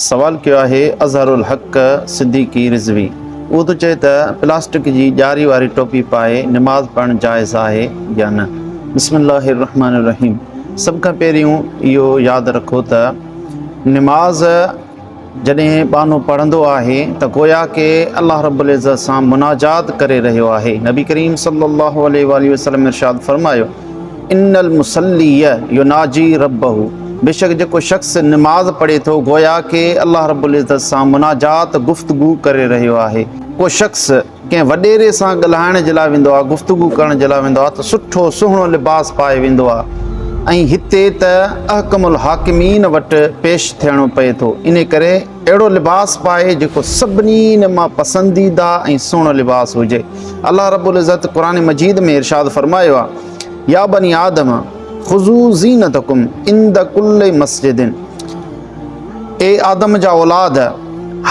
سوال ڪيو آهي اظهر الحق صديقي رضوي اهو ٿو چئي ته پلاسٽڪ جي ڄاري واري ٽوپي پائي نماز پڙهڻ جائز آهي يا نه بسم الله الرحمٰن الرحيم سڀ کان پهريون اهو ياد رکو ته نماز جڏهن ٻانهو پڙهندو آهي ته گويا ڪي الله رب العزت سان مناجات ڪري رهيو آهي نبي ڪريم صلي الله عليه وسلم ارشاد فرمايو ان المصلي يناجي ربه بيشڪ جيڪو شخص نماز پڙهي ٿو گويا ڪي الله رب العزت سان مناجات، گفتگو، ڪري رهيو آهي. ڪو شخص ڪنهن وڏيري سان ڳالهائڻ جي لاء ويندو آهي، گفتگو ڪرڻ جي لاء ويندو آهي ته سٺو سهڻو لباس پائي ويندو آهي ۽ هتي ته احڪم الحاڪمين وٽ پيش ٿيڻو پئي ٿو انهي ڪري اهڙو لباس پائي جيڪو سڀني مان پسنديده ۽ سهڻو لباس هجي الله رب العزت قرآن مجيد ۾ ارشاد فرمايو آ يا بني آدم خذو زينتکم عند کل مسجد اي آدم جا اولاد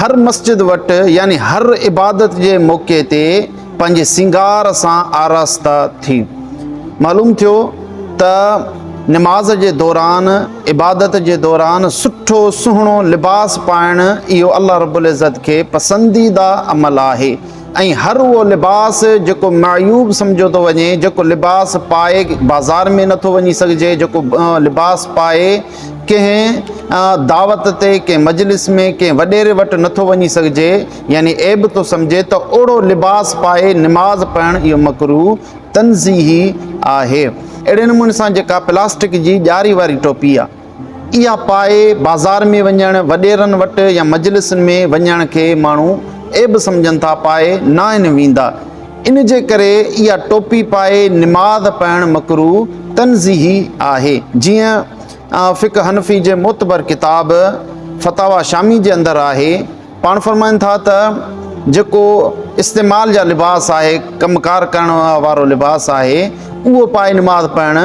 هر مسجد وٽ يعني هر عبادت جي موقعي تي پنهنجي سينگار سان آراسته ٿي معلوم ٿيو ته نماز جي دوران عبادت جي دوران سٺو سهڻو لباس پائڻ اهو الله رب العزت کي پسنديده عمل آهي ۽ هر اهو لباس جيڪو معيوب سمجهيو ٿو وڃي جيڪو لباس پائي بازار ۾ نٿو وڃي سگهجي جيڪو لباس پائي ڪنهن دعوت تي ڪنهن مجلس ۾ ڪنهن وڏيري وٽ نٿو وڃي سگهجي يعني عيب ٿو سمجهي ته اهڙو لباس پائي نماز پڙهڻ اهو مڪروه تنزيهي آهي. اهڙي نموني سان جيڪا پلاسٽڪ جي ڄاري واري ٽوپي آ اها پائي بازار ۾ وڃڻ، وڏيرن وٽ يا مجلسن ۾ وڃڻ کي ماڻهو عيب سمجهن ٿا پائي ناهن ويندا ان جي ڪري اها ٽوپي پائي نماز پڙهڻ مڪروه تنزيهي آهي جيئن فقه حنفي جي معتبر ڪتاب فتاويٰ شامي جي اندر آهي. پاڻ فرمائن ٿا ته جيڪو استعمال جا لباس آهي، ڪم ڪار ڪرڻ وارو لباس آهي، اهو پائي نماز پڙهڻ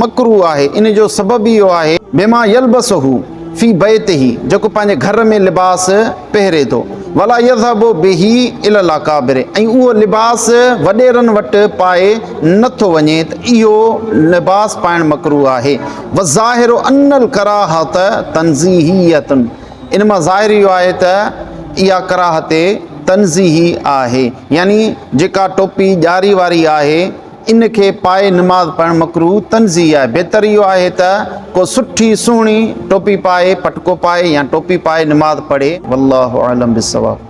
مڪروه آهي، ان جو سبب ئي اهو آهي. بما يلبسه في بيته، جيڪو پنهنجي گهر ۾ لباس پهري ٿو، ولا يذهب به الي الاڪابر، ۽ اهو لباس وڏيرن وٽ پائي نه ٿو وڃي ته اهو لباس پائڻ مڪروه آهي، والظاهر ان الڪراهة تنزيهية. ان مان ظاهر اهو آهي ته اها ڪراهت تنزيهي آهي، يعني جيڪا ٽوپي ڄاري واري آهي، ان کي پائي نماز پڙهڻ مڪروه تنزيهي آهي، بهتر اهو آهي ته ڪو سٺي سهڻي ٽوپي پائي، پٽڪو پائي يا ٽوپي پائي نماز پڙهي، والله اعلم بالصواب.